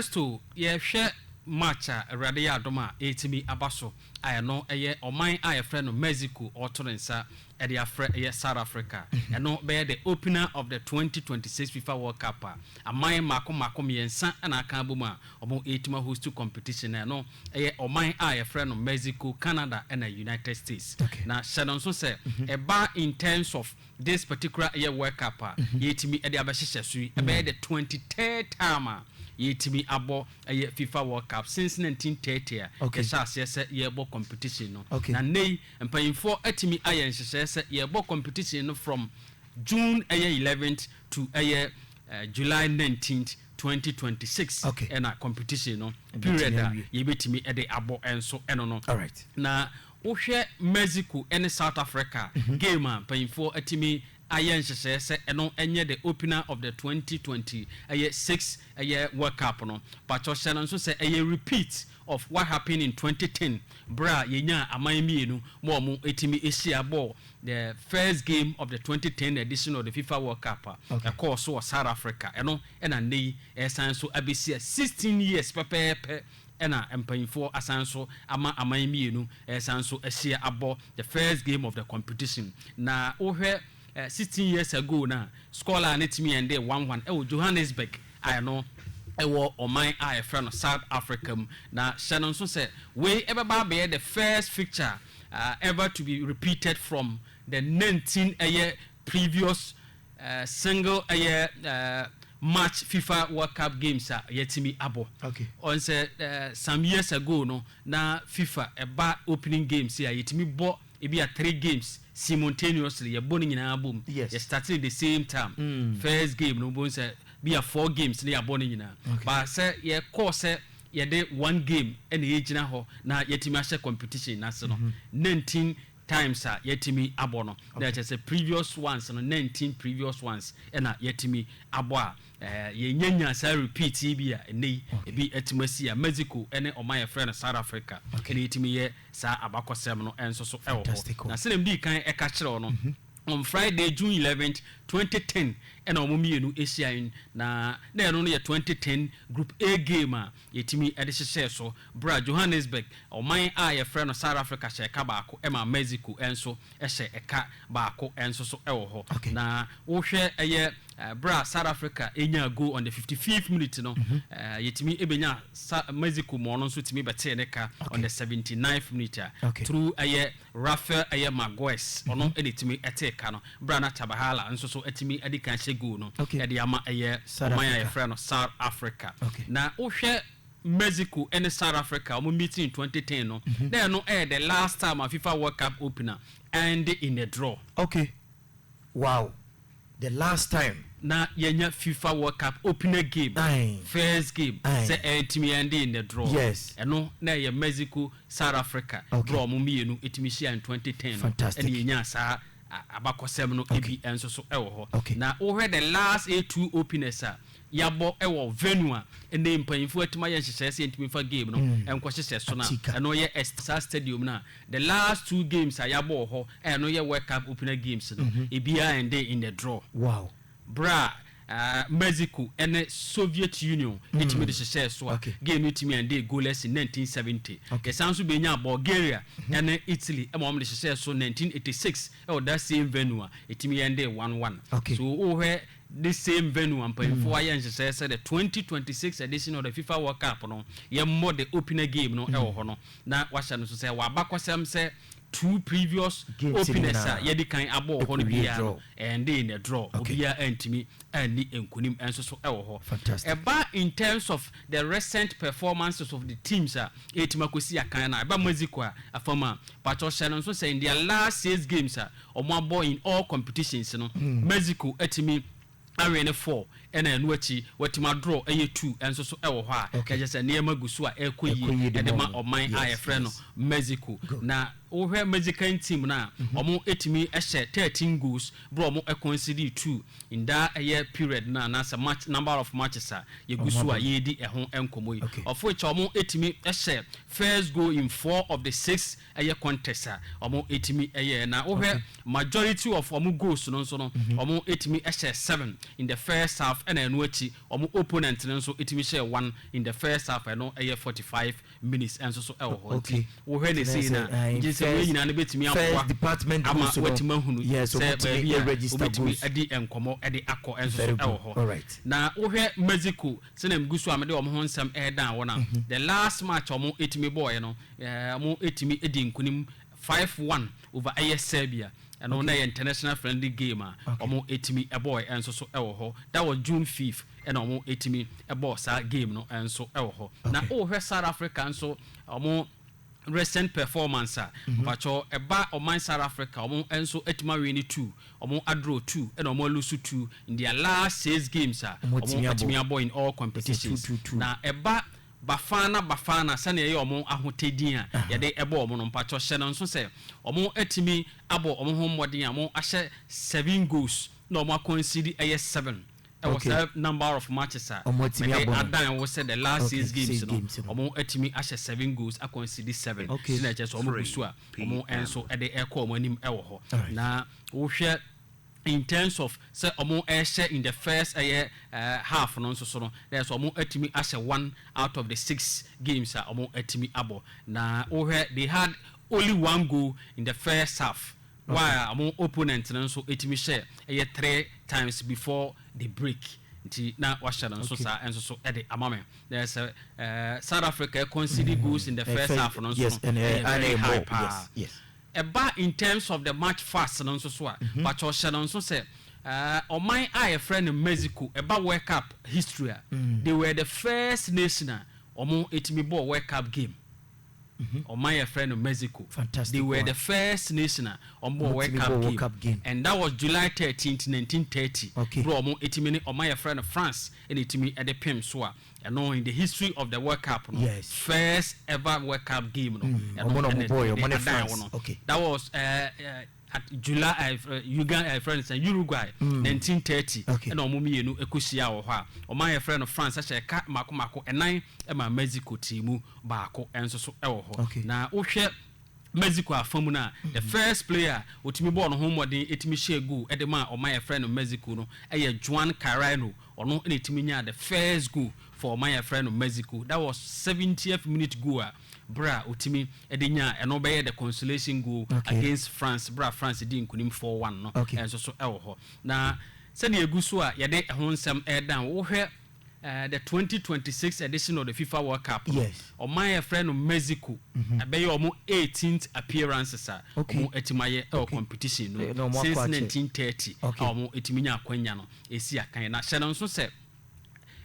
Festo, yɛhwɛ March a, Awurade yɛ adom a ɛretumi aba so a ɛno yɛ ɔman a yɛfrɛ no Mexico ɔreto ne nsa de afrɛ yɛ South Africa. Ɛno bɛyɛ the opener of the twenty twenty six Fifa World Cup a aman mmaako mmaako mmiɛnsa na aka abom a wɔretumi ahost competition no. Ɛno yɛ ɔman a yɛfrɛ no Mexico, Canada na United States. Na hyɛ no nso sɛ ɛba in terms of This particular ɛyɛ work up a yɛtumi ɛde abɛhyehyɛ so yi ɛbɛyɛ the twenty third time a yɛtumi abɔ ɛyɛ fifa world cup since nineteen thirty a yɛhyɛ aseɛ sɛ yɛbɔ competition no na nnɛ yi mpanyinfoɔ atumi ayɛ nhyehyɛɛ sɛ yɛbɔ competition no from june ɛyɛ eleventh to ɛyɛ july nineteenth twenty twenty six ɛna competition no period a yɛbɛtumi ɛde abɔ ɛnso ɛno no na Wohwɛ Mexico ne South Africa game a, mpanyimfoɔ atumi ayɛ nhyehyɛɛ sɛ ɛno nyɛ the opener of the twenty twenty ɛyɛ six ɛyɛ World Cup no. Pakyɛw hyɛ no nso sɛ ɛyɛ repeat of what happened in twenty ten berɛ a yɛnyaa aman mmienu ma wɔtumi hyia bɔɔ the first game of the twenty ten edition of the Fifa World Cup a ɛkɔɔ so wɔ South Africa. Ɛno na nnɛ yi ɛresan nso abɛsi a sixteen years pɛpɛɛpɛ Ɛna mpaninfoɔ asan nso ama aman mmienu ɛresan nso ahyia abɔ the first game of the competition. Na wo hwɛ sixteen years ago no a, score line no tumi endee one one ɛwɔ Johannesburg a ɛno ɛwɔ ɔman a yɛfrɛ no South Africa mu. Na hyɛ no nso sɛ wei ɛbɛba abɛyɛ the first fixture ever to be repeated from the nineteen ɛyɛ previous Single ɛyɛ March fifa world cup games a yɛatumi abɔ. Ɔn sɛ some years ago no na fifa ɛba opening games yi a yɛtumi bɔ ebi a three games simultaneously yɛbɔ ne nyinaa bom. Yɛ start ne the same time. First game no wobɛhu sɛ bi a four games na yɛabɔ ne nyinaa. But sɛ yɛkɔɔ sɛ yɛde one game na ɛgyina hɔ na yɛatumi ahyɛ competition no ase no na ntim. times a yɛatumi abɔ no, na kyerɛ sɛ previous ones no, nineteen previous ones na yɛatumi abɔ a, yɛnnya nyaa saa repeat yi bi a ɛnnɛ yi ebi atumi asi a Mexico ne ɔman a yɛfrɛ no South Africa na yɛtumi yɛ saa abakɔsɛm no nso so wɔ hɔ. Na sɛdeɛ medii kan ka kyerɛ wo no, on Friday, June eleventh, twenty ten, ɛna wɔn mmienu hyiae, na na ɛno no yɛ twenty ten Group A game a Yetumi de hyehyɛɛ so bere a Johannesburg, ɔman a wɔfrɛ no South Africa hyɛ ɛka baako ma Mexico nso hyɛ ɛka baako nso so wɔ hɔ. Na wohwɛ ɛyɛ bere a South Africa nyaa goal on the fifty fifth minute no, yetumi benyaa Sa Mexico ma ɔno nso tumi bɛtee ne ka on the seventy ninth minute a through ɛyɛ Rafael ɛyɛ Magoes ɔno na ɛtumi tee ka no berɛ a na Tabahala nso so atumi adi kan hyɛ goal no de ama ɛyɛ ɔman a yɛfrɛ no South Africa. Na wohwɛ Mexico ne South Africa wɔn meeting in twenty ten no, na ɛno ɛyɛ the last time a FIFA World Cup opener ɛnde in a draw. Okay, Wow the last time. Na yɛnya fifa world cup opener game Aye. first game Aye. sɛ ɛntumi ɛnde in the draw Yes. ɛno na ɛyɛ Mexico South Africa Okay. berɛ a wɔn mmienu tumi hyiaa in twenty ten no Fantastic. ɛna yɛnyaa saa a- abakɔsɛm no Okay. bi nso so wɔ hɔ Okay. na wohwɛ the last eight two openers a yɛabɔ wɔ venue a ɛnɛ yi mpanyimfoɔ atumi ayɛ nhyehyɛeɛ sɛ yɛntumi mfa game no nkɔhyehyɛ so no a, ɛno yɛ Estasaar Stadium no a the last two games a yɛabɔ wɔ hɔ a ɛno yɛ World Cup opener games no, ebiara ended in the draw. Berɛ a Mexico ne Soviet Union tumi de hyehyɛɛ so a, game no tumi endee goalless in 1970. Yɛsan nso bɛnyaa Bulgaria ne Italy ma wɔde hyehyɛɛ so 1986 wɔ that same venue a ɛtumi endee one one. So wohwɛ This same venue a mpanyimfo ayɛ nhyehyɛe sɛ the twenty twenty six edition of the fifa world cup no yɛmmɔ the opener game no wɔ hɔ no na wɔahyɛ no nso sɛ ɛwɔ abakɔsɛm sɛ two previous openers a yɛadi kan abɔ wɔ hɔ no biara no ɛnded in a draw, obiara antumi anni nkonim nso so wɔ hɔ. Ɛba in terms of the recent performances of the teams a ɛretumi akɔsi akan no a, ɛba Mexico a, afam a, pakyɛw hyɛ no nso sɛ in their last six games a wɔabɔ in all competitions no, Mexico atumi awene four na ɛno akyi watumi adraw ɛyɛ two nso so wɔ hɔ a, na kyerɛ sɛ nneɛma gu so a ɛrekɔ yie de ma ɔman a yɛfrɛ no Mexico. Na wohwɛ Mexican team no a, wɔtumi hyɛ thirteen goals berɛ a wɔconcedee two in daa ɛyɛ period no anaasɛ match number of matches a yɛgu so a yɛredi ɛho nkɔmmɔ yi. Of which a wɔtumi hyɛ first goal in four of the six ɛyɛ contest a wɔn ɛtumi yɛɛ na wo hwɛ majority of wɔn goals no nso no wɔn ɛtumi hyɛɛ seven in the first half ɛna ɛno akyi wɔn opponent no nso ɛtumi hyɛɛ one in the first half ɛno ɛyɛ forty five minutes ɛnso so ɛwɔ hɔ nti wo hwɛ ne sei no a gye sɛ wei nyinaa no bɛtumi aboa ama watumi ahunu sɛ baabi a wobɛtumi adi nkɔmmɔ ɛde akɔ ɛnso so ɛwɔ hɔ na wo hwɛ Mexico sɛnea megu so a mede wɔn ho nsɛm ɛredan wɔn a the last match wɔn ɛtumi bɔɔɛ no Wɔtumi dii nkunim five one over ɛyɛ Serbia. Ɛno na ɛyɛ international friendly game a wɔtumi bɔɔɛ nso so wɔ hɔ. That was June fifth ɛna wɔtumi bɔɔ saa game no nso wɔ hɔ. Na wohwɛ South Africa nso wɔn recent performance a, mpakyɛ ɛba ɔman South Africa wɔn nso atumi awine two, wɔn adraw two ɛna wɔn alose two in their last six games a wɔatumi abɔ in all competitions. Na ɛba Bafana Bafana sɛnea ɛyɛ wɔn ahotɛ din a yɛde bɔ wɔn no, mpakyɛw hyɛ no nso sɛ wɔatumi abɔ wɔn ho mmɔden a wɔahyɛ seven goals na wɔn akɔnsidi ɛyɛ seven wɔ saa number of matches a mede adan wo sɛ the last six games no wɔatumi ahyɛ seven goals akɔnsidi seven nti na ɛkyerɛ sɛ wɔgu so a wɔn nso de rekɔ wɔn anim wɔ hɔ na wohwɛ in terms of sɛ ɔmo ɛɛhyɛ in the first ɛyɛ half no nso so no na yɛ sɛ ɔmo atumi ahyɛ one out of the six games a ɔmo atumi abɔ na wo hwɛ they had only one goal in the first half while a ɔmo opponent no nso atumi hyɛ ɛyɛ three times before the break nti na wahyɛ no nso saa nso so ɛde ama me na yɛ sɛ South Africa conceded goals in the first half no nso no ɛyɛ very high paa. Ɛba in terms of the March fast no nso so a, pakyɛw hyɛ no nso sɛ, ɔman a yɛfrɛ no Mexico, ɛba World Cup history a, they were the first nation a wɔtumi bɔɔ World Cup game. Ɔman a yɛfrɛ no Mexico, they were the first nation a wɔbɔɔ World Cup game. World Cup game. And that was July thirteenth, nineteen thirty, Okay. berɛ a wɔtumi ne ɔman a yɛfrɛ no France na ɛtumi de pem so a, Ɛno in the history of the world cup no yes. first ever world cup game no. Mm. Ɛno mm. ɛne ɛne adan wɔ no. Okay. That was uh, uh, at July uh, eh, eh, Uganda uh, France and Uruguay mm. 1930 okay. ɛna wɔn mmienu ɛkɔhyia wɔ hɔ a wɔn ayɛ frɛ no France ɛhyɛ ɛka mako mako ɛnan ɛma Mexico tii mu baako ɛnso so ɛwɔ hɔ okay. na wohwɛ Mexico afa mu no a, the first player a otumi bɔɔ ne ho mmɔden tumi hyɛɛ goal de maa ɔman a yɛfrɛ no Mexico no yɛ Juan Carreño. Ɔno na otumi nyaa the first goal for ɔman a yɛfrɛ no Mexico. That was seventieth minute goal a bere a otumi de nyaa ɛno bɛyɛ the consolation goal against France bere a France dii nkunim four one no nso so wɔ hɔ. Na sɛnea egu so a yɛde ɛho nsɛm redan, wohwɛ The twenty twenty six edition of the fifa world cup no Yes. ɔman a yɛfrɛ no Mexico ɛbɛyɛ ɔmo eighteenth appearances a Okay. ɔmo atumi ayɛ ɛwɔ Okay. competition no Eh, na ɔmo mu akɔ since akyɛ. nineteen thirty a Okay. ɔmo atumi nya akwanya no esi akan yi na hyɛ no nso sɛ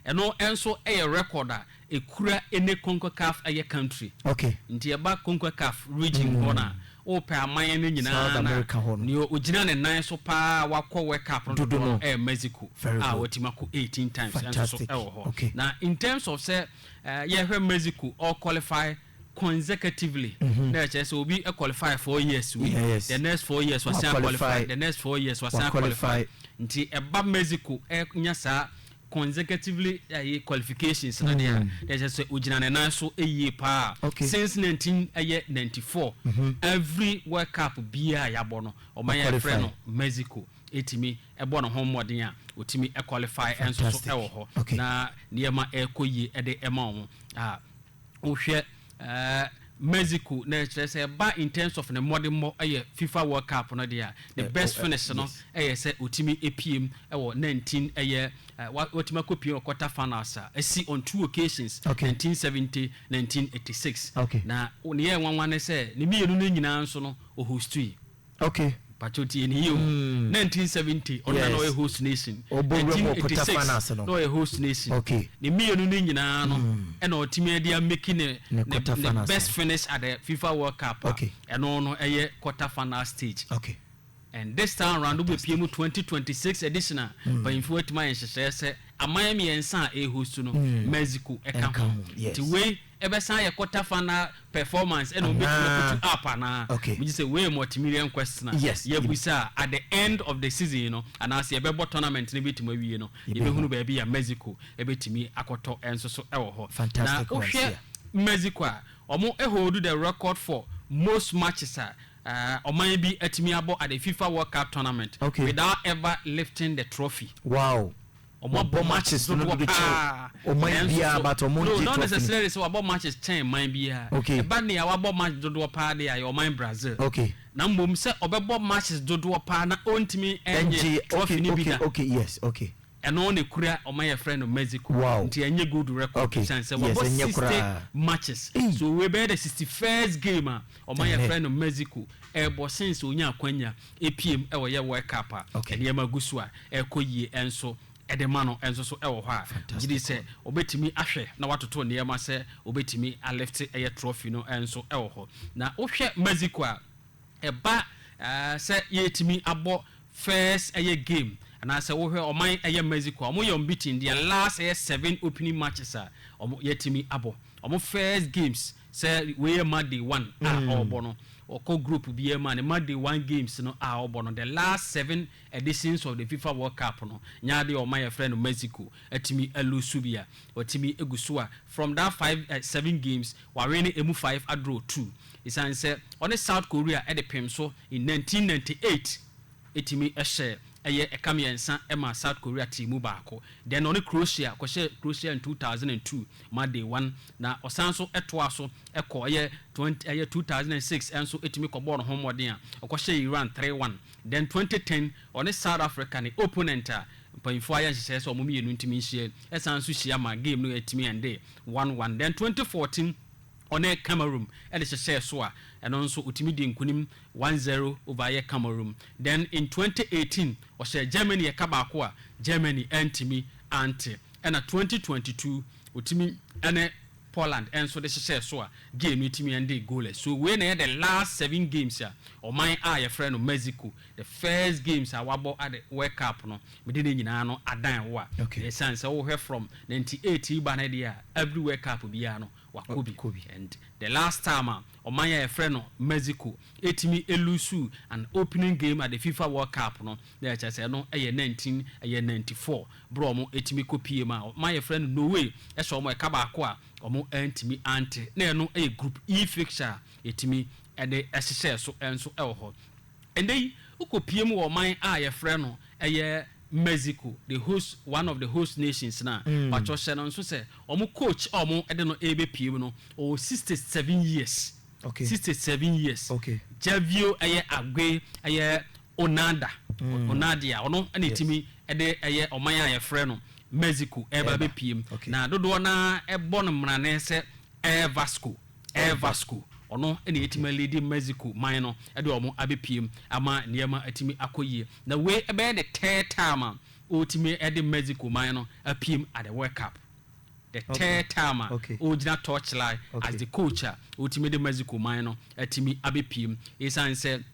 ɛno nso ɛyɛ record a ekura any Concacaf ɛyɛ country Okay. nti ɛba Concacaf region hɔ no a Wopɛ aman no nyinaa no a, nea ogyina ne nan so paa a wakɔ World Cup no dodoɔ no yɛ Mexico a watumi akɔ eighteen times nso so wɔ hɔ. Na in terms of sɛ yɛhwɛ Mexico ɔ qualify consecutively na ɛkyerɛ sɛ obi qualify four years wei, the next four years wasan qualify, the next four years wasan qualify. Nti ɛba Mexico nya saa consecutively ɛyɛ qualifications no deɛ a na ɛsɛ sɛ ogyina ne nan so yie paa since nineteen ɛyɛ ninety four every world cup biara a yɛabɔ no ɔman yɛ frɛ no mexico ɛtumi ɛbɔ ne ho mmɔden a ɔtumi ɛqualify ɛnso so ɛwɔ hɔ na nneɛma ɛkɔ yie ɛde ɛma wɔn a. Wohwɛ Mexico na ɛkyerɛ sɛ ɛba in terms of ne mmɔdemmɔ yɛ fifa world cup no deɛ a ne best finish no yɛ sɛ ɔtumi piem wɔ nineteen ɛyɛ watumi akɔ piem wɔ quarter finals a ɛsi on two occasions nineteen seventy nineteen eighty six na ne yɛ nwanwa ne sɛ ne mmienu no nyinaa nso no ɔhostui. Okay. Pacho tie ne yie o. Mm. Nineteen seventy ɔno na na ɔyɛ host nation. Ɔbɔ wura mu ɔpota fa na ase no. Na ɔyɛ host nation. Okay. Ne mmienu no nyinaa no ɛna ɔtumi ɛde ameki ne ne ne best finish at the FIFA World Cup. Okay. Ɛno no ɛyɛ quarter final stage. Okay. And this time round wobɛ pie mu twenty twenty six edition a mpanyinfoɔ atumi ayɛ nhyehyɛɛ sɛ aman mmiɛnsa a ɛhost no Mexico ɛka ho. Nti wei. Ɛbɛsan ayɛ quarter final performance ɛna wɔbɛtumi akutu up anaa? Okay. Megye sɛ wei yɛ multimillion question a Yes. yɛabusa a at the end of the season no anaasɛ yɛbɛbɔ tournament no bɛtumi awie no Yɛbɛhu. yɛbɛhunu baabi a Mexico bɛtumi akɔtɔ nso so wɔ hɔ. Fantastic Na ones wohwɛ here. Mexico a, wɔn hold the record for most matches a eh, ɔman bi atumi abɔ at the FIFA World Cup tournament Okay. without ever lifting the trophy. Wow. Ɔmo abɔ matches dodoɔ paa. Ɔmo de kyɛn ɔman biaa but ɔmo ngye trophy no. No not necessarily sɛ wabɔ matches kyɛn man biaa. Okay. Ɛba nea wabɔ match dodoɔ paa deɛ a yɛ ɔman Brazil. Okay. Na mmom sɛ ɔbɛbɔ matches dodoɔ paa na ɔntumi ɛngye trophy no bi da. Okay okay okay yes okay. Ɛno na ɛkura ɔman yɛfrɛ no Mexico. Wow. Nti ɛnyɛ gold record. Okay. Ɛsiane sɛ wabɔ Yes ɛnyɛ koraa. 60 matches. Ei. So wei bɛyɛ the 61st game a ɔman Ɛnnɛ. yɛfrɛ no Mexico ɛɛbɔ since ɔnyaa akwanya Epiem wɔ yɛ World Cup a nneɛma gu so a ɛrekɔ yie nso de ma no nso so wɔ hɔ a ɔgye di sɛ ɔbɛtumi ahwɛ na watoto nneɛma sɛ ɔbɛtumi alifte ɛyɛ trɔfi no nso wɔ hɔ. Na wohwɛ Mexico a, ɛba sɛ yɛtumi abɔ first ɛyɛ game anaa sɛ wohwɛ ɔman ɛyɛ Mexico a wɔyɛ unbeaten, their last ɛyɛ seven opening matches a wɔatumi abɔ wɔn first games Sɛ wei yɛ match day one a ɔɔbɔ no, ɔkɔ group biaa mu a, ne match day one games no a ɔɔbɔ no, the last seven editions of the fifa world cup no, nyɛ adeɛ a ɔman a yɛfrɛ no Mexico atumi a lose bi a, watumi agu so a, from that five eh, seven games, wawene ɛmu five a draw two. Ɛsiane sɛ ɔne South Korea de pem so in nineteen ninety eight. tumi hyɛ ɛyɛ ɛka mmiɛnsa ma South Korea team mu baako. Then ɔne Croatia, ɔkɔhyɛɛ Croatia in two thousand and two ma they won. Na ɔsan nso toaa so kɔ ɛyɛ twenty ɛyɛ two thousand and six nso tumi kɔbɔɔ ne ho mmɔden a ɔkɔhyɛɛ Iran three one. Then twenty ten ɔne South Africa ne opponent a mpanyinfoɔ ayɛ nhyehyɛɛ sɛ wɔn mmienu ntumi nhyia yi san nso hyia ma game no tumi endee one one. Then twenty fourteen. Ɔne Cameroon de hyehyɛɛ so a, ɛno nso otumi dii nkunim one zero over yɛ Cameroon. Then in twenty eighteen, ɔhyɛɛ Germany ɛka baako a Germany antumi ante. Ɛna twenty twenty two, otumi ne Poland nso de hyehyɛɛ so a, game no tumi endee goalless. So wei na ɛyɛ the last seven games a ɔman a yɛfrɛ no Mexico, the first games a wabɔ ade World Cup no, mede ne nyinaa no adan wo a. Okay. Ɛsiane sɛ wohwɛ from ninety eight reba ne deɛ a, every World Cup biara no, Wakɔ bi. Wakɔ bi. And the last time a ɔman yi a yɛfrɛ no Mexico ɛtumi ɛlusu an opening game at the FIFA World Cup no, na ɛkyerɛ sɛ ɛno ɛyɛ nineteen ɛyɛ ninety four berɛ a wɔn ɛtumi kɔ pie mu a ɔman a yɛfrɛ no Norway ɛhyɛ wɔn ɛka baako a wɔn antumi ante. Na ɛno ɛyɛ group E fixture a yɛtumi ɛde ɛhyehyɛɛ so nso ɛwɔ hɔ. Ɛnnɛ yi, wokɔpue mu wɔ ɔman a yɛfrɛ no ɛyɛ Mexico, the host, one of the host nations no a, pakyɛw hyɛ no nso sɛ wɔn coach a wɔde no rebɛpue mu no, ɔwɔ sixty seven years, sixty seven years, Javio ɛyɛ Ague ɛyɛ Onada, Onadia, ɔno na ɛtumi de ɛyɛ ɔman a yɛfrɛ no Mexico ɛreba abɛpue mu, na dodoɔ no ara bɔ no mmarane sɛ Air Vasco. Air Vasco, ɔno na yɛatumi aliidi Mexico man no de wɔn abɛpiem ama nneɛma atumi akɔ yie. Na wei ɛbɛyɛ the third time a ɔretumi de Mexico man no apiem at the World Cup. The third time a ɔregyina torchlight as the coach a ɔretumi de Mexico man no atumi abɛpiem. Ɛsiane sɛ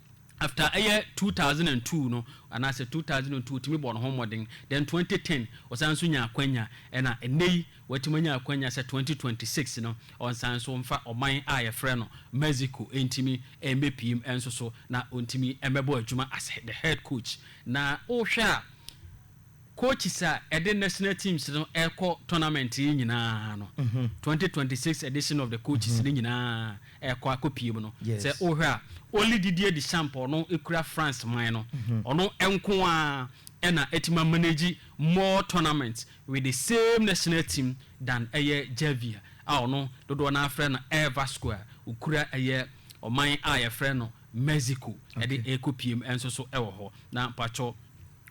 After ɛyɛ two thousand and two no anaasɛ two thousand and two ɔtumi bɔɔ ne ho mmɔden then twenty ten ɔsan nso nyaa akwanya ɛna ɛnnɛ yi watumi anya akwanya sɛ twenty twenty six no ɔnsan nso mfa ɔman a yɛfrɛ no Mexico ntumi mmɛpiem nso so na ɔntumi mmɛbɔ adwuma as the head coach na wohwɛ a Coaches a ɛde national teams no rekɔ tournament yi nyinaa no, twenty twenty six edition of the coaches no nyinaa rekɔ akɔpue mu no, sɛ wohwɛ a, only Didier Deschamps a ɔno kura France man no, ɔno nko ara na atumi a manage more tournaments with the same national team than ɛyɛ Xavi a ɔno dodoɔ no ara frɛ no Air Vasco a ɔkura ɛyɛ ɔman a yɛfrɛ no Mexico de rekɔpue mu nso so wɔ hɔ. Na mpakyɛw.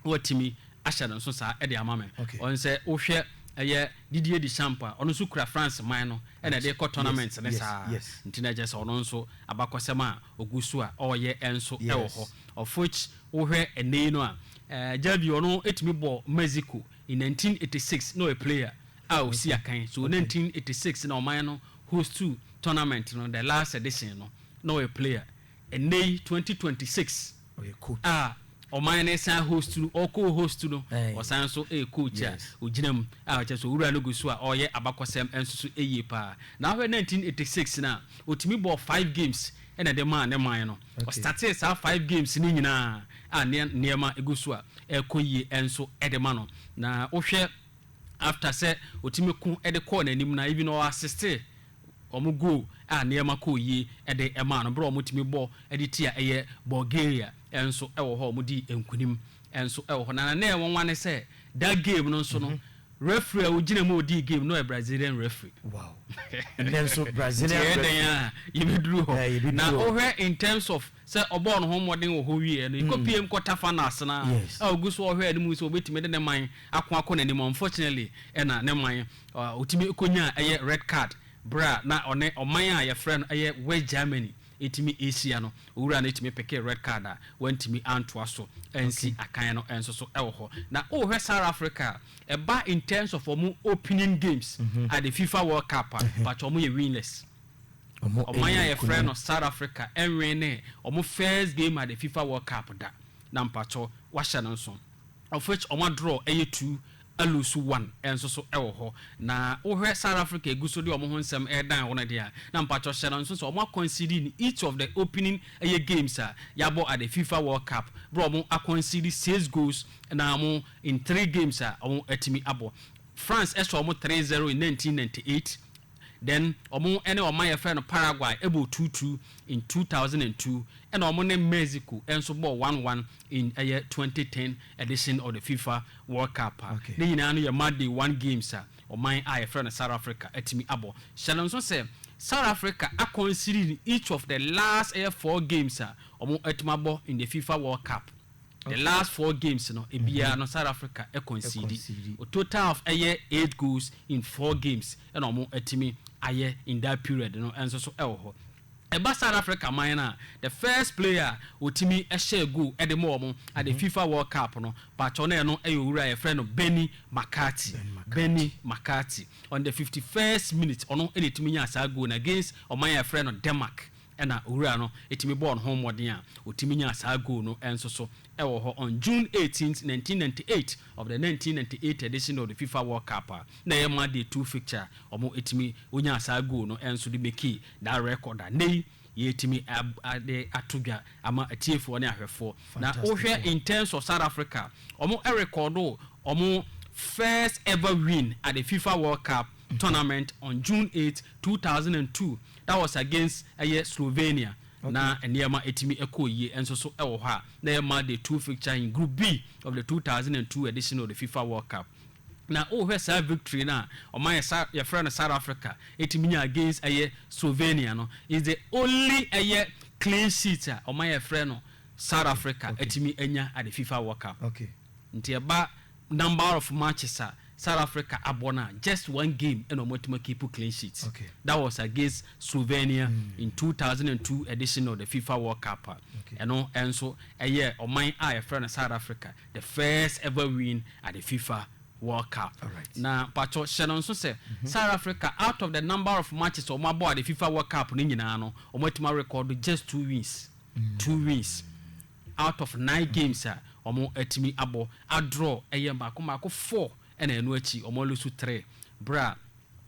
watumi ahyɛ no nso saa de ama me. Ɔn sɛ wohwɛ ɛyɛ Didier Deschamps a, ɔno nso kura France man no na ɛde kɔ tournaments ne saa. Nti na kyerɛ sɛ ɔno nso abakɔsɛm a ɔgu so a ɔreyɛ nso wɔ hɔ. Of which wohwɛ ɛnnɛ yi no a, Xavi ɔno tumi bɔɔ Mexico in nineteen eighty six na ɔyɛ player a ɔsi akan. So nineteen eighty six na ɔman no host tournament no, the last edition no, na ɔyɛ player. Ɛnnɛ yi, twenty twenty six a ɔman no resan host no, ɔrekɔ host no, ɔsan nso yɛ coach a ogyina mu a kyerɛ sɛ owura no gu so a ɔreyɛ abakɔsɛm nso so yie pa ara. Na wohwɛ nineteen eighty six no a, otumi bɔɔ five games na ɛde maa ne man no. Ɔstartee saa five games no nyinaa a nneɛma gu so a ɛrekɔ yie nso de ma no. Na wohwɛ after sɛ otumi ko de kɔɔ n'anim no a, even ɔ assistee. wɔn goal a nneɛma kɔɔ yie de maa no, berɛ a wɔtumi bɔ de tia ɛyɛ Bulgaria nso wɔ hɔ a wɔdii nkunim nso wɔ hɔ. Na na nɛɛ nwanwa ne sɛ that game no nso no referee a ɔgyina mu a ɔdii game no yɛ Brazilian referee. Wow. Nnɛ nso Brazilian referee. Nti ɛyɛ dɛn a yɛbɛduru hɔ. Na wohwɛ in terms of sɛ ɔbɔɔ ne ho mmɔden wɔ hɔ wieeɛ no, yɛkɔpuee kɔ Tafa no ase no ara a ɔgu so ɔhwɛ anim sɛ ɔbɛtumi de ne man ako akɔ n'anim. Unfortunately, ɛna ne man, ɔtumi kɔnyaa ɛyɛ red card berɛ a na ɔne ɔman a yɛfrɛ no ɛyɛ West Germany ɛtumi ɛrehyia no. Owura no ɛtumi pekee red card a wantumi antoa so ansi akan no nso so wɔ hɔ. Na wohwɛ South Africa a, ɛba in terms of wɔn opening games at the FIFA World Cup a, mpakyɛ wɔyɛ winless. Ɔman a yɛfrɛ no South Africa nwenee wɔn first game at the Fifa World Cup da, na mpakyɛw wɔahyɛ no nso, of which wɔn adraw ɛyɛ two, aluusu one nso so wɔ hɔ. Na wohwɛ South Africa a egu so de wɔn ho nsɛm redan wɔn deɛ a, na mpakyɛw hyɛ no nso sɛ wɔn a concede in each of the opening ɛyɛ games a yɛabɔ at the Fifa World Cup, bere a wɔn a concede six goals na wɔn in three games a wɔatumi abɔ. France hyɛ wɔn three zero in nineteen ninety eight, Then ɔmo ne ɔman a yɛfrɛ no Paraguay bɔɔ two two in two thousand and two ɛna ɔmo ne Mexico nso bɔɔ one one in ɛyɛ twenty ten edition of the fifa world cup a ne nyinaa no yɛ match day one games a ɔman a yɛfrɛ no South Africa atumi abɔ. Hyɛ no nso sɛ South Africa akɔnsider each of the last ɛyɛ four games a ɔmo atumi abɔ in the fifa world cup. The last four games no biara no South Africa concede a total of ɛyɛ eight goals in four games na wɔn atumi ayɛ in that period no nso so wɔ hɔ. Ɛba South Africa man no a, the first player a ɔtumi hyɛɛ goal de maa wɔn at the fifa world cup no, paatwɔ na ɛno yɛ owura a yɛfrɛ no Benni McCarthy, Benni McCarthy, on the fifty first minute ɔno na ɛtumi nyaa saa goal no against ɔman a yɛfrɛ no Denmark. Ɛna owura no tumi bɔɔ ne ho mmɔden a ɔtumi nyaa saa goal no nso so wɔ hɔ on June eighteenth, nineteen ninety eight of the nineteen ninety eight edition of the FIFA World Cup a na ɛyɛ match day two fixture a wɔtumi ɔnyaa saa goal no nso de makee that record a nnɛ yi yɛtumi de ato dwa ama atiefoɔ ne ahwɛfoɔ. Na wohwɛ in terms of South Africa a wɔrekɔɔdo wɔn first ever win at the FIFA World Cup. tournament on June eight, two thousand and two, that was against ɛyɛ Slovenia, na nneɛma tumi kɔɔ yie nso so wɔ hɔ a na ɛyɛ match day two fixture in Group B of the two thousand and two edition of the FIFA World Cup. Na wohwɛ saa victory no a ɔman a sa yɛfrɛ no South Africa tumi nya against ɛyɛ Slovenia no, it's the only ɛyɛ clean sheet a ɔman a yɛfrɛ no South Africa atumi anya at the FIFA World Cup. Nti ɛba Number of matches a South Africa abɔ no a, just one game na wɔatumi akiipu clean sheet. That was against Slovenia in two thousand and two edition of the Fifa World Cup a ɛno nso ɛyɛɛ ɔman a wɔfrɛ no South Africa the first ever win at the Fifa World Cup. Na mpakyɛw hyɛ no nso sɛ South Africa out of the number of matches a wɔabɔ at the Fifa World Cup no nyinaa no, wɔatumi arekɔɔdo just two wins, two wins. Out of nine games a wɔatumi abɔ, adraw yɛ mmaako mmaako four na ɛno akyi wɔaloose three. Bere a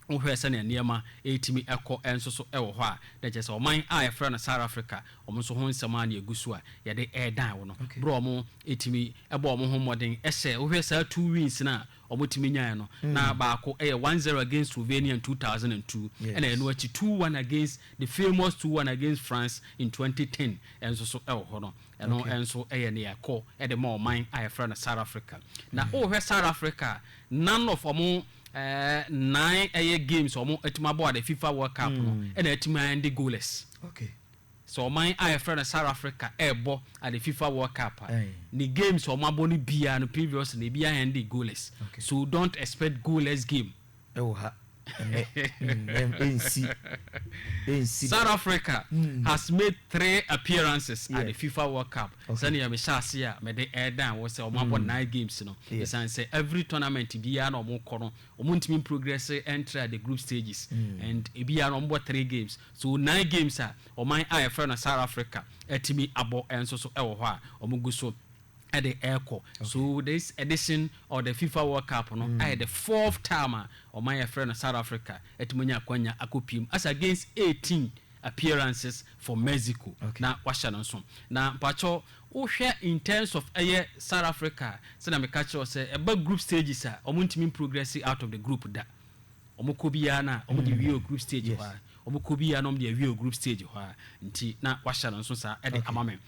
wohwɛ sɛnea nneɛma retumi kɔ nso so wɔ hɔ a, na ɛkyerɛ sɛ ɔman a wɔfrɛ no South Africa, wɔn nso ho nsɛm ara na egu so a wɔde redan wɔn. Bere a wɔtumi bɔɔ wɔn ho mmɔden sɛ wohwɛ saa two wins no a wɔtumi nyaeɛ no, na baako yɛ one zero against Slovenia in two thousand and two, ɛna ɛno akyi two one against the famous two one against France in twenty ten nso so wɔ hɔ no, ɛno nso yɛ nea ɛkɔ de ma ɔman a yɛfrɛ no South Africa. Na wohwɛ South Africa a, none of wɔn nnan ɛyɛ games a wɔatumi abɔ at the FIFA World Cup no na atumi a end goalless. Sɛ ɔman a yɛfrɛ no South Africa rebɔ ade fifa world cup a, ne games a wɔabɔ no biara no previously no ebiara ending goalless. So don't expect goalless game. Ɛwɔ ha ɛnnɛ ensi ensi da. South Africa has made three appearances at the fifa world cup sɛnea mehyɛ ase a mede redan wɔ sɛ wɔabɔ nine games no. Esiane sɛ every tournament biara na wɔkɔ no wɔntumi mprogress ntra the group stages and ebiara no wɔbɔ three games. So nine games a ɔman a yɛfrɛ no South Africa atumi abɔ nso so wɔ hɔ a wɔgu so de rekɔ. So this edition of the Fifa World Cup no ayɛ the fourth time a ɔman a yɛfrɛ no South Africa atumi anya akwanya akɔpue mu. As against eighteen appearances for Mexico na wahyɛ no nso. Na mpakyɛw wohwɛ in terms of ɛyɛ South Africa a, sɛnea meka kyerɛɛ wo sɛ ɛba group stages a wɔntumi mprogress out of the group da. Wɔn kɔ biara na wɔn de wie wɔ group stage hɔ ara, wɔn kɔ biara na wɔn de awie wɔ group stage hɔ ara, nti na wahyɛ no nso saa de ama me.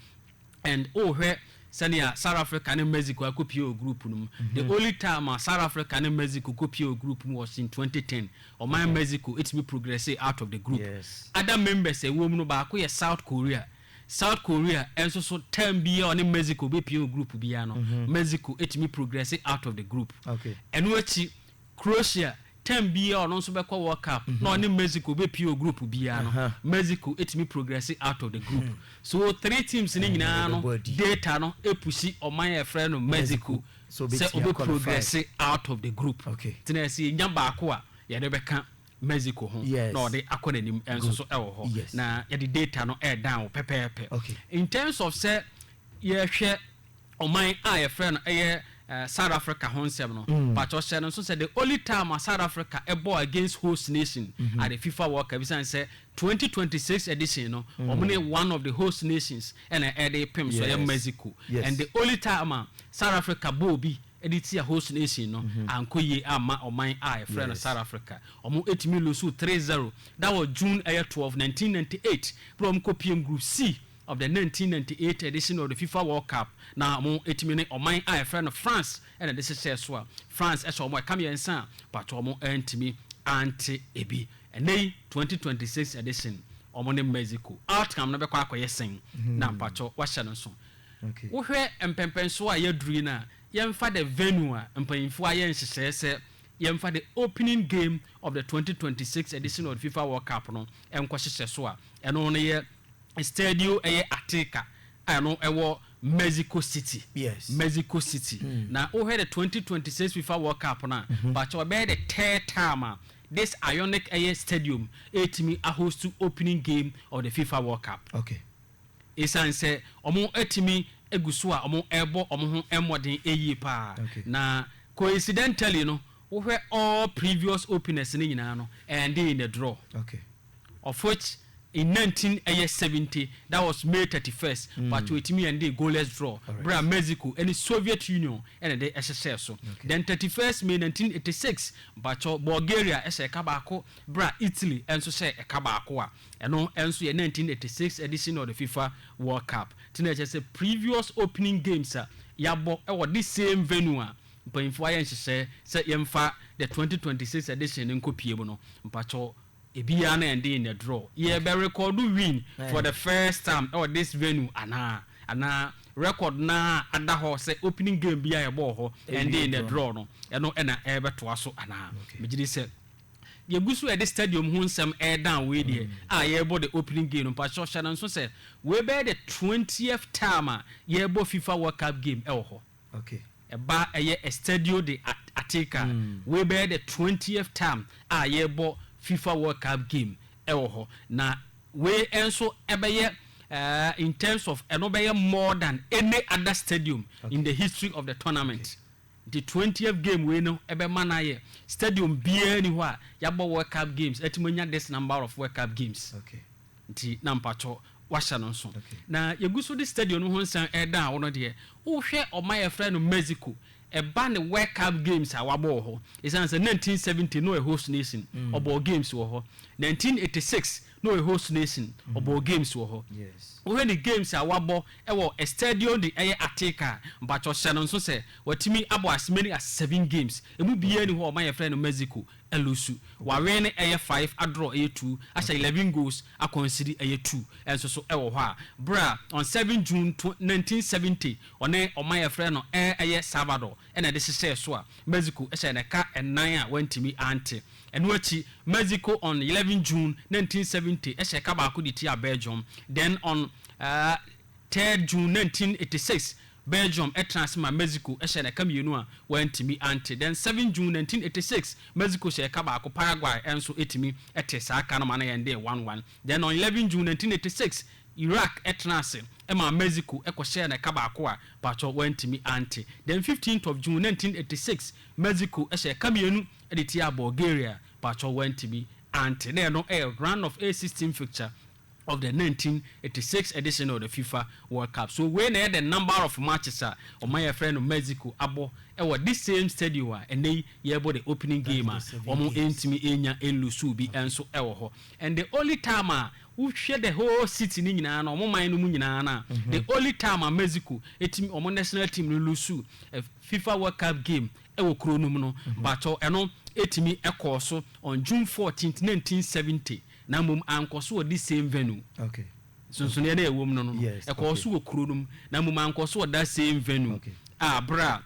And wo hwɛ sɛnea South Africa ne Mexico akɔ pie wɔ group no mu, the only time a South Africa ne Mexico kɔ pie wɔ group mu was in twenty ten, ɔman Mexico tumi progressee out of the group. Other members a ɛwɔ mu no baako yɛ South Korea, South Korea nso so term biara a ɔne Mexico bɛ pie wɔ group biara no, Mexico tumi progressee out of the group. Ɛno akyi, Croatia, term biara ɔno nso bɛkɔ World Cup na ɔne Mexico bɛpie wɔ group biara no, Mexico tumi progresse out of the group. So three teams no nyinaa no data no pushi ɔman a yɛfrɛ no Mexico sɛ ɔbɛ progresse out of the group. Nti na sɛ yɛnya baako a yɛde bɛka Mexico ho na ɔde akɔ n'anim nso so wɔ hɔ. Na yɛde data no ɛɛdan wo pɛpɛɛpɛ. In terms of sɛ yɛhwɛ ɔman a yɛfrɛ no ɛyɛ South Africa ho nsɛm no, pakyɛw hyɛ no nso sɛ the only time a South Africa bɔɔ against host nation at the FIFA World Cup esiane sɛ twenty twenty six edition no wɔn ne one of the host nations ɛna ɛde repem so ɛyɛ Mexico and the only time a South Africa bɔɔ bi ɛde tia host nation no ankɔ yie amma ɔman a yɛfrɛ no South Africa wɔn etumi lose three zero that was June ɛyɛ twelve nineteen ninety eight bere a wɔn kɔ pm group C. of the nineteen ninety eight edition of the Fifa World Cup na wɔatumi ne ɔman a yɛfrɛ no France na ɛde hyehyɛɛ so a France hyɛ wɔn ɛka mmiɛnsa a pato wɔn antumi ante ebi. Ɛnnɛ yi twenty twenty six edition wɔn ne Mexico. Outcome no bɛkɔ akɔyɛ sɛn na mpato wahyɛ no nso? Wohwɛ mpɛmpɛnsoɔ a yɛaduru yi no a, yɛmfa the venue a mpanyinfoɔ ayɛ nhyehyɛɛ sɛ yɛmfa the opening game of the twenty twenty six edition of the Fifa World Cup no nkɔhyehyɛ so a, ɛno no yɛ Estadio ɛyɛ Ateca a ɛno ɛwɔ Mexico City, Yes. Mexico City. Na wohwɛ the twenty twenty six FIFA World Cup no a, pakyɛw ɛbɛyɛ the third time a this ionic ɛyɛ stadium ɛretumi ahost opening game of the FIFA World Cup. Okay. Esiane sɛ wɔatumi agu so a wɔrebɔ wɔn ho mmɔden yie pa ara. Okay. Na coincidentally no, wohwɛ all previous openers no nyinaa no, ɛndee in the draw. Okay. of which in nineteen ɛyɛ seventy that was May thirty first but wɔtumi ɛndee goalless draw berɛ a Mexico ɛne Soviet Union ɛna ɛde ɛhyehyɛɛ so then thirty first May nineteen eighty six mpakyɛw Bulgaria ɛhyɛɛ ɛka baako berɛ a Italy ɛnso hyɛɛ ɛka baako a ɛno ɛnso yɛ nineteen eighty six edition of the FIFA World Cup nti na ɛkyerɛ sɛ previous opening games a yɛabɔ ɛwɔ this same venue a mpanyinfoɔ ayɛ nhyehyɛɛ sɛ yɛmfa the twenty twenty six edition no nkɔpie mu no mpakyɛw Ebiaa na ɛnde in the draw yɛ bɛ rekɔɔdo win for the first time ɛwɔ this venue anaa? Anaa record no ara ada hɔ sɛ opening game biaa yɛbɔɔ hɔ ɛnde in the draw no ɛno na ɛrebɛtoa so anaa? Megye di sɛ yɛgu so ɛde stadium ho nsɛm redan wei deɛ a yɛrebɔ the opening game no. Mpakyɛw hyɛ no nso sɛ wei bɛyɛ the twentieth time a yɛrebɔ fifa world cup game ɛwɔ hɔ. Ɛba ɛyɛ Estadio de Ateca wei bɛyɛ the twentieth time a yɛbɔ fifa world cup game ɛwɔ hɔ na wei ɛnso ɛbɛyɛ in terms of ɛno bɛyɛ more than any other stadium in the history of the tournament nti twentieth game wei no ɛbɛma no ayɛ stadium biara ni hɔ a yabɔ world cup games atumi anya this number of world cup games. Nti na mpakyɛw wahyɛ no nso. Na yɛgu so de stadium no ho nsɛm reda a wo no deɛ, wohwɛ ɔman a yɛfrɛ no Mexico, ɛba ne World Cup games a wabɔ wɔ hɔ, ɛsiane sɛ nineteen seventy na ɔyɛ host nation, ɔbɔɔ games wɔ hɔ. Nineteen eighty six na ɔyɛ host nation, ɔbɔɔ games wɔ hɔ. Wohwɛ ne games a wabɔ wɔ Estadio de ɛyɛ Ateca a, mpakyɛw hyɛ no nso sɛ watumi abɔ as many as seven games. Ɛmu biara nni hɔ a ɔman a yɛfrɛ no Mexico Alusu, wɔawe no ɛyɛ five adraw ɛyɛ two ahyɛ eleven goals akwansiri ɛyɛ two nso so ɛwɔ hɔ a berɛ a on seven June nineteen seventy ɔne ɔman a yɛfrɛ no ɛ ɛyɛ Salvador ɛna ɛde hyehyɛɛ so a Mexico hyɛɛ no ɛka nnan a wantumi ante ɛno akyi Mexico on eleven June nineteen seventy hyɛɛ ɛka baako de tiaa Belgium then on 3rd June 1986, Belgium tra ase ma Mexico hyɛɛ no ɛka mmienu a wɔantumi ante. Then 7 June 1986, Mexico hyɛɛ ɛka baako, Paraguay nso tumi tee saa ɛka no ma na yɛn de yɛ one one. Then on 11 June 1986, Iraq tra ase maa Mexico kɔ hyɛɛ no ɛka baako a mpakyɛw wɔantumi ante. Then 15th of June 1986, Mexico hyɛɛ ɛka mmienu de tiaa Bulgaria, mpakyɛw wɔantumi ante. Na ɛno yɛ round of a 16 fixture of the nineteen eighty six edition of the fifa world cup so wei na ɛyɛ the number of matches a ɔman a yɛfrɛ no Mexico abɔ wɔ this same stadio a ɛnɛ yi yɛrebɔ the opening game a wɔn ntumi nya nlusu bi nso wɔ hɔ and the only time a wohwɛ the whole city no nyinaa no wɔn man no mu nyinaa no a the only time a Mexico ɛtumi wɔn national team no lusu a fifa world cup game wɔ kuro no mu no but ɛno ɛtumi ɛkɔɔ so on June fourteenth nineteen seventy. Na mmom ankɔ so wɔ this same venue. Okay. Nsonsonoeɛ no a ɛwɔ mu no no, Yes, ɛkɔɔ okay. so wɔ kuro no mu. Na mmom ankɔ so wɔ that same venue Okay. a berɛ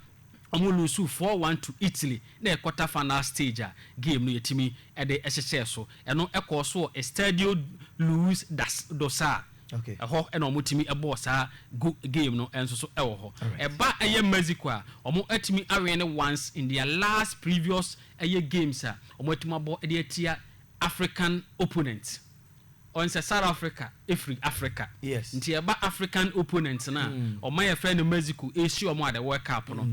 a wɔn loosuu four one to Italy na yɛ quarter final stage a game no yɛtumi de hyehyɛɛ so. Ɛno kɔɔ so wɔ Estadio Luz da S do Sá. Okay. Ɛhɔ na wɔtumi bɔɔ saa go game no nso so wɔ hɔ. Alright. Ɛba ɛyɛ Mexico a, wɔatumi awene once in their last previous ɛyɛ games a wɔatumi abɔ de atia African opponent ɔn sɛ South Africa firi Africa Yes. nti ɛba African opponent no a ɔman a yɛfrɛ no Mexico ɛresi wɔn a the World Cup no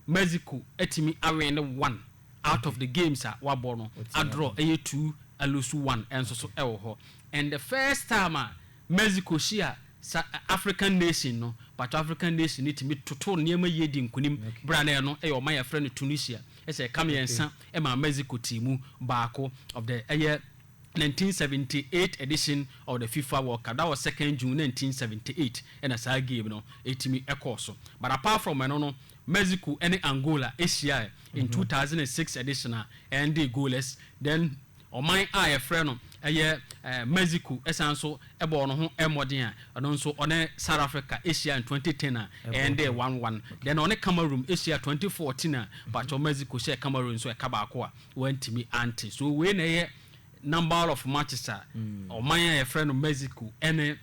Mexico atumi awɛn ne one out of the games a wabɔ no Watumi adraw abɔ. ɛyɛ two alusu one ɛnso so ɛwɔ hɔ and the first time a Mexico hyia Sa African nation no, pato African nation no tumi totoo nneɛma yie dii nkunim berɛ a na ɛno yɛ ɔman a yɛfrɛ no Tunisia. Ɛsɛ ɛka mmiɛnsa maa Mexico tii mu baako of the ɛyɛ nineteen seventy eight edition of the FIFA World Cup that was second June nineteen seventy eight ɛna saa game no ɛtumi ɛkɔɔ so but apart from ɛno no Mexico ɛne Angola ɛhyiaɛ in two thousand and six edition a ɛndee goalless then Ɔman a wɔfrɛ no yɛ Mexico san nso bɔɔ ne ho mmɔden a ɛno nso ɔne South Africa hyiae in twenty ten a ɛɛndee one one. Then ɔne Cameroon hyiae twenty fourteen a mpakyɛw Mexico hyɛɛ Cameroon nso ɛka baako a wɔantumi ante. So wei na ɛyɛ number of matches a ɔman a wɔfrɛ no Mexico ne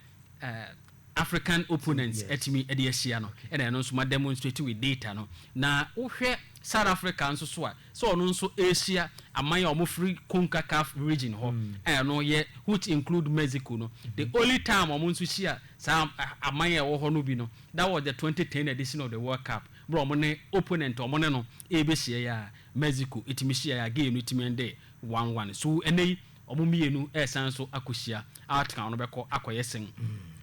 African opponents atumi de ahyia no na ɛno nso ma demonstrate with data no na wo hwɛ South Africa nso so a sɛ ɔno nso ɛrehyia aman a wɔn firi Concacaf region hɔ a ɛno yɛ which include Mexico no the only time wɔn nso hyia saa aman a ɛwɔ hɔ no bi no that was the 2010 edition of the World Cup berɛ wɔn ne opponent wɔn ne no ɛrebɛhyia yi a Mexico ɛtumi hyia yi a game no ɛtumi ɛndɛ one one so ɛnɛ yi Wɔn mmienu resan nso akɔhyia. Outcome no bɛkɔ akɔyɛ sɛn?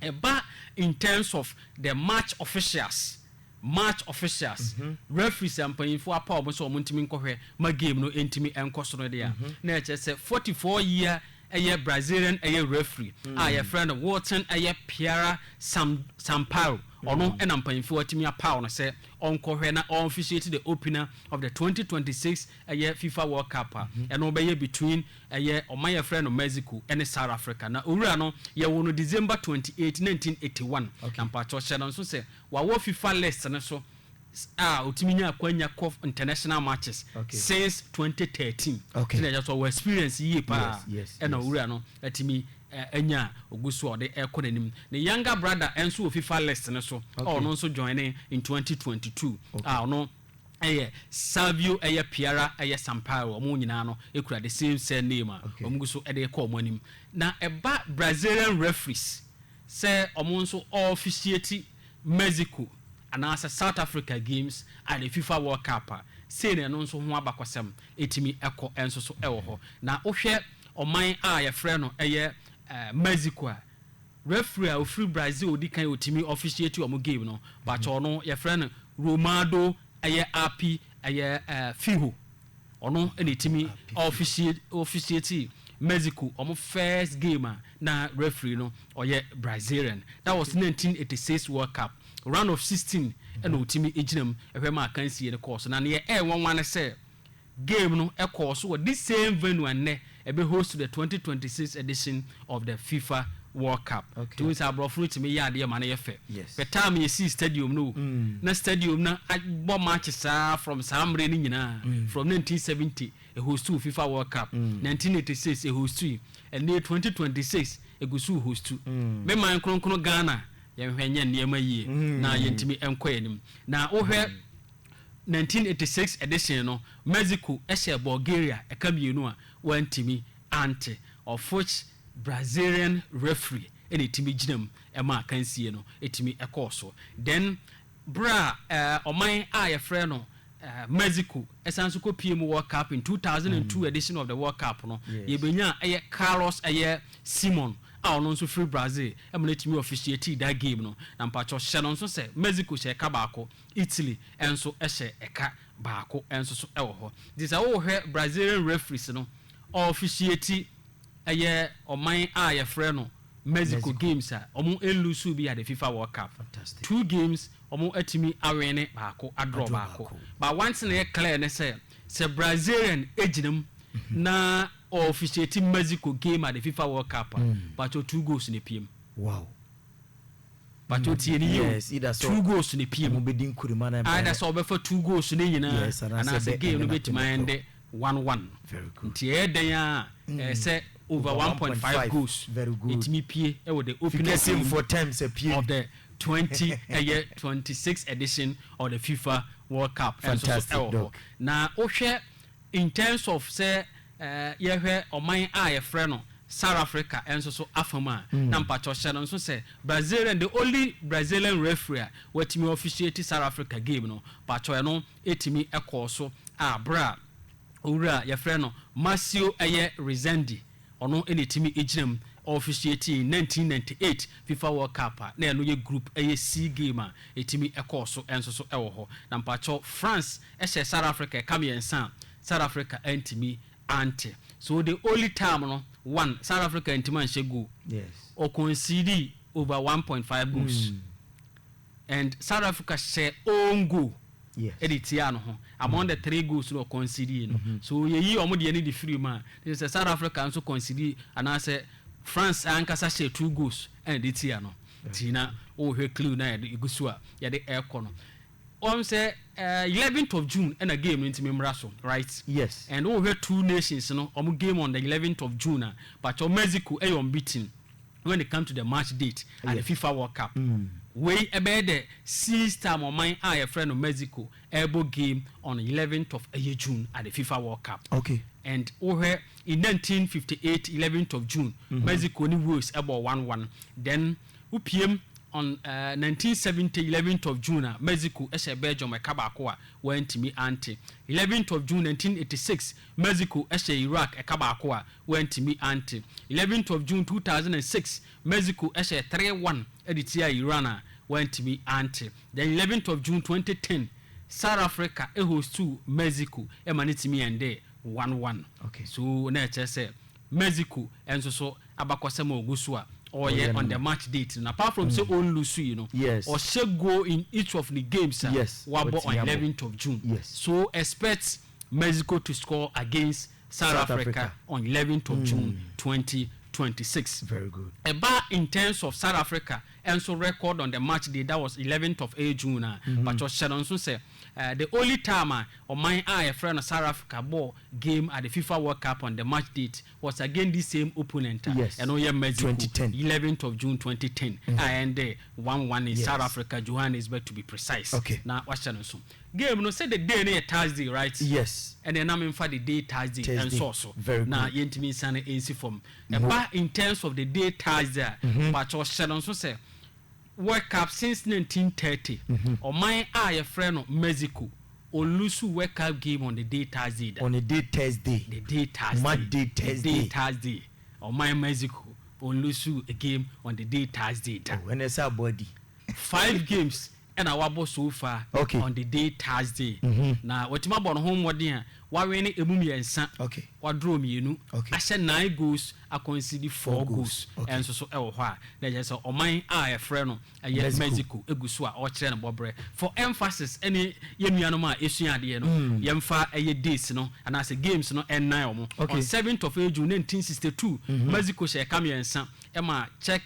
Ɛba in terms of the match officials, match officials, referees a mpanyimfoɔ apaw wɔn sɛ wɔntumi nkɔhwɛ ma game no ntumi nkɔ so no deɛ a, na ɛkyerɛ sɛ forty four year ɛyɛ Brazilian ɛyɛ referee a wɔfrɛ no Wilton ɛyɛ Piara Sam Sampaio, ɔno na mpanyimfoɔ atumi apaw no sɛ ɔnkɔhwɛ na ɔnfficiate the opener of the twenty twenty six ɛyɛ fifa world cup a ɛno bɛyɛ between ɛyɛ ɔman yɛfrɛ no Mexico ɛne South Africa na owura no yɛwoo no December twenty eight nineteen eighty one na mpakyɛw hyɛ no nso sɛ wawɔ fifa list no so a otumi nya akwanya kɔ international matches since twenty thirteen ti na ɛyɛ so ɔwɔ experience yie paa ɛna owura no atumi anya a ogu so a ɔde ɛkɔ n'anim ne younger brother ɛnso wɔ fifa list no so a ɔno nso join in twenty twenty two a ɔno Ɛyɛ Savio, ɛyɛ Piara, ɛyɛ Sampaio, wɔn nyinaa no kura the same surname a wɔn gu so de rekɔ wɔn anim. Na ɛba Brazilian referees sɛ wɔn nso wɔ officiate Mexico anaasɛ South Africa games a the Fifa World Cup a, sei na ɛno nso ho abakɔsɛm tumi kɔ nso so wɔ hɔ. Na wohwɛ ɔman a wɔfrɛ no ɛyɛ Mexico a, Referee a ɔfiri Brazil a ɔdi kan a ɔtumi officiate wɔn game no, pakyɛw no yɛfrɛ no Romaldo ɛyɛ Api ɛyɛ Fiho. Ɔno na ɛtumi officiate Mexico wɔn first game a na referee no ɔyɛ Brazilian. That was nineteen eighty six World Cup. Round of sixteen ɛna ɔtumi gyina mu hwɛ ma akansie no kɔɔ so. Na deɛ ɛyɛ nwanwa ne sɛ Game no kɔɔ so wɔ this same venue a nnɛ ɛbɛ host the twenty twenty six edition of the fifa world cup. Nti wohu sɛ aborɔfo no tumi yɛ adeɛ ma no yɛ fɛ. Pɛ time a yɛsii stadium no o, na stadium no abɔ matches ara from saa mmerɛ no nyinaa, from nineteen seventy ɛhostuu fifa world cup, nineteen eighty six ɛhostui, ɛnnɛ yi twenty twenty six ɛgu so rehostu. Me man kronkron Ghana, yɛnhwɛ nyɛ nneɛma yie na yɛntumi nkɔ yɛn anim. Na wohwɛ. 1986 edition no, Mexico hyɛɛ Bulgaria ɛka mmienu a wɔantumi ante, of which Brazilian referee na ɛtumi gyina mu ma akansie no tumi kɔɔ so. Then berɛ a ɔman a yɛfrɛ no Mexico san nso kɔ pie mu World Cup in 2002 edition of the World Cup no, yɛbɛnyaa ɛyɛ Carlos ɛyɛ Simon a ɔno nso firi Brazil ma no tumi officiatii that game no. Na mpakyɛw hyɛ no nso sɛ Mexico hyɛ ɛka baako Italy nso hyɛ ɛka baako nso so wɔ hɔ. Nti sɛ wohwɛ Brazilian referees no, ɔɔfihyieti ɛyɛ ɔman a yɛfrɛ no Mexico games a ɔmo nluusuu bi ade fifa world cup. Two games ɔmo atumi awene baako adrɔ baako. But one thing a ɛyɛ clear ne sɛ, sɛ Brazilian gyina mu na ɔɔfihyieti Mexico game ade fifa world cup a, mpakyɛw two goals na epiem. Wow. Pakyɛw tie no yie o, two goals na epie mu. Either sɛ wɔbɛfa two goals no nyinaa anaasɛ game no bɛtumi aɛnde one one no. Nti ɛyɛ dɛn ara a, ɛyɛ sɛ over one point five goals ɛtumi pie wɔ the opening game of the twenty ɛyɛ twenty six edition of the fifa world cup ɛnso so ɛwɔ hɔ. Na wohwɛ in terms of sɛ Yɛhwɛ ɔman a yɛfrɛ no Sarafrika nso so afa mu a, na mpakyɛw hyɛ no nso sɛ Brazilian, the only Brazilian referee a watumi officiate Sarafrika game no, mpakyɛw ɛno tumi kɔɔ so a bere a owura a yɛfrɛ no Marcio ɛyɛ Rezende, ɔno na etumi gyina mu officiate nineteen ninety eight Fifa World Cup a na ɛno yɛ group ɛyɛ C game a etumi kɔɔ so nso so wɔ hɔ. Na mpakyɛw France hyɛ Sarafrika ɛka mmiɛnsa a South Africa antumi ante so the only time no one South Africa antumi anhyɛ goal yes or concede over 1.5 goals mm. and South Africa hyɛ own goal yes ɛde tia no ho among mm. the three goals no concede no mm -hmm. so yɛyi wɔn deɛ ne de firi mu a ne sɛ South Africa nso concede anaasɛ France ankasa hyɛ two goals ɛna de tia no tina wɔhwɛ clue na yɛde egu so a yɛde ɛkɔ no. Wɔn sɛ eleventh of June ɛna game no nti me mmra so right? Yes. And wo hwɛ two nations no wɔn game on the eleventh of June a pakyɛw Mexico ɛyɛ unbeaten when it come to the match date at the FIFA world cup. Wei ɛbɛyɛ the sixth time ɔman a yɛfrɛ no Mexico ɛɛbɔ game on eleventh of ɛyɛ June at the FIFA world cup. Okay. And wo hwɛ in nineteen fifty eight eleventh of June Mexico ne Wales ɛbɔɔ one one then. Wopiam on nineteen seventy eleventh of June a Mexico hyɛɛ Belgium ɛka baako a wɔantumi ante. Eleventh of June nineteen eighty six Mexico hyɛɛ Iraq ɛka baako a wɔantumi ante. Eleventh of June two thousand and six Mexico hyɛɛ three one de tiaa Iran a wɔantumi ante. Then eleventh of June twenty ten South Africa hostuu Mexico ma no tumi endee one one. Okay. So na ɛkyerɛ sɛ Mexico nso so abakɔsɛm a ɔgu so a ɔyɛ on the match date no apart from sɛ ɔn lose yi no ɔhyɛ goal in each of ne games a wabɔ on eleventh of June so expect Mexico to score against South Africa on eleventh of June twenty twenty six. Ɛbaa in terms of South Africa nso record on the match day that was eleventh of June a pakyɛ hyɛ no nso sɛ The only time a ɔman a yɛfrɛ no South Africa bɔɔ game at the Fifa World Cup on the match date was against this same opponent a ɛno yɛ Mexico, eleventh of June twenty ten a ɛndɛɛ one one in South Africa, Johannesburg to be precise na wahyɛ no nso. Game no sɛ the day no yɛ Thursday right? Ɛneɛ na menfa the day Thursday ɛnsɔɔ so na yɛntumi nsane ɛnsi fam. Ɛba in terms of the day Thursday a mpakyɛw hyɛ no nso sɛ Wake-Up Since 1930, Ɔman a wɔfrɛ no Mexico, Olusu Wake-Up Game on the Day Thursday da. On the day Thursday. The day Thursday. Ma day Thursday. The day Thursday. Ɔman Mexico, Olusu a game on the day Thursday da. Oh, ɛnɛ sɛ abɔ adi. Five games ɛna wabɔ so far okay. on the day Thursday. Mm -hmm. Na watumi abɔ ne ho mmɔden a wawene emu mmiɛnsa. Okay. Wadorɔ mmienu. Okay. Ahyɛ nine goals Akwanside Four Goals nso so wɔ hɔ a, na ɛkyerɛ sɛ ɔman a wɔfrɛ no Mexico gu so a ɔrekyerɛ ne bɔberɛ. For emphasis ne yɛn nuanom a wɔsua adeɛ no, yɛmfa ɛyɛ dates no anaasɛ games no nnan wɔn. On seventh of June nineteen sixty two, Mexico hyɛɛ ka mmiɛnsa maa Czech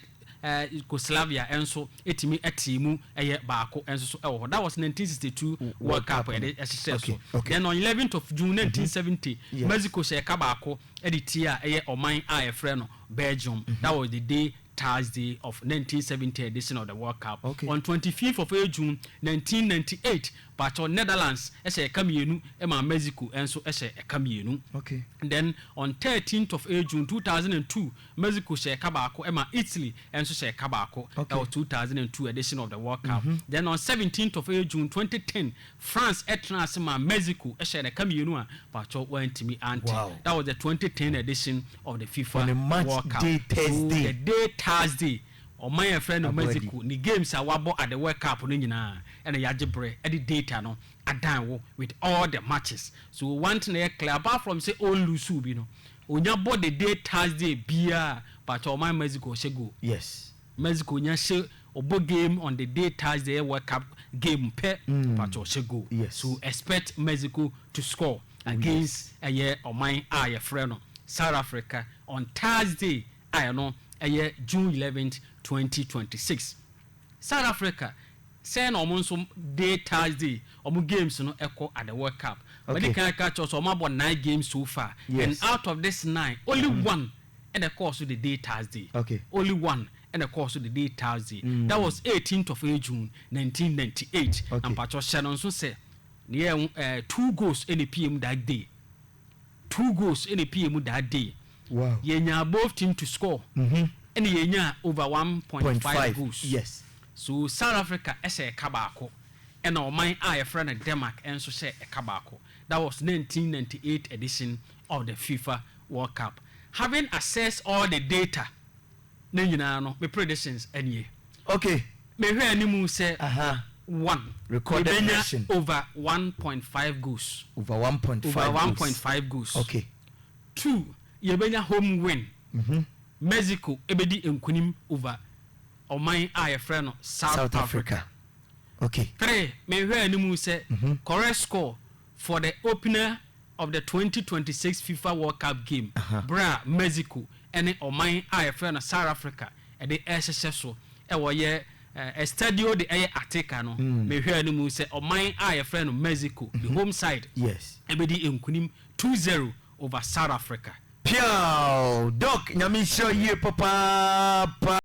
Yugoslavia nso tumi tee mu ɛyɛ baako nso so wɔ hɔ. That was nineteen sixty two World Cup a yɛde hyehyɛɛ so. Then on eleventh of June nineteen seventy, Mexico hyɛɛ ka baako. de ti a ɛyɛ ɔman a yɛfrɛ no Belgium, that was the day Thursday of nineteen seventy edition of the World Cup, okay. on twenty fifth of June nineteen ninety eight, paatwɔ Netherlands hyɛ ɛka mmienu ma Mexico nso hyɛ ɛka mmienu, okay. then on thirteenth of June two thousand and two, Mexico hyɛ ɛka baako ma Italy nso hyɛ ɛka baako, okay. ɛwɔ two thousand and two edition of the World Cup, mm -hmm. then on seventeenth of June twenty ten, France tena ase maa Mexico hyɛɛ daka mmienu a paatwɔ wɔantumi ante. That was the twenty ten edition of the FIFA World Cup. So the day Thursday, ɔman a yɛfrɛ no Mexico ne games a wɔabɔ at the World Cup no nyinaa na yɛagye berɛ de data no adan wo with all the matches. So one thing a ɛyɛ clear, apart from sɛ ɔnluusuu bi no, ɔnya bɔ the day Thursday biara a, paatwɔ ɔman Mexico hyɛ goal. Yes. Mexico nya hyɛ ɔbɔ game on the day Thursday ɛyɛ world cup game pɛ mpatsɔ ɔhyɛ goal so expect Mexico to score against ɛyɛ ɔman a yɛfrɛ no South Africa on Thursday a ɛno ɛyɛ June eleventh twenty twenty six South Africa sɛɛ na ɔmo nso day Thursday ɔmo games no ɛkɔ at the world cup mɛdi kan aka akyerɛ sɛ ɔmo abɔ nine games so far and out of this nine only one ɛna ɛkɔɔ so the day Thursday. Okay. Only one ɛna ɛkɔɔ so the day Thursday. Mm. That was eighteenth of eh, June nineteen ninety eight. Okay. Na mpatsɔ hyɛ no nso sɛ ne yɛ ho eh, two goals ɛna epie mu that day. Two goals ɛna epie mu that day. Wow. Yɛnyaa both team to score. Mhm. Ɛna yɛnyaa over one point Point five five. goals. Yes. So South Africa hyɛ ɛka baako ɛna ɔman a yɛfrɛ no Denmark nso hyɛ ɛka baako. That was nineteen ninety eight edition of the fifa world cup having assessed all the data ne nyinaa no me predictions nie ok me hwɛ animu sɛ one yɛbɛnya over one point five goals over one point over five one point five goals ok two yɛbɛnya home win Mexico ɛbɛdi nkunim over ɔman a yɛfrɛ no South South Africa Africa ok three me hwɛ animu sɛ correct score for the opener of the twenty twenty six fifa world cup game berɛ a Mexico ne ɔman a yɛfrɛ no South Africa de rehyehyɛ so wɔ yɛ Estadio de ɛyɛ Ateca no, mehwɛɛ no mu sɛ ɔman a yɛfrɛ no Mexico, the home side, bɛdi nkunim two zero over South Africa. Piaww! Doc, Nyame nhyira wo yie papaapa.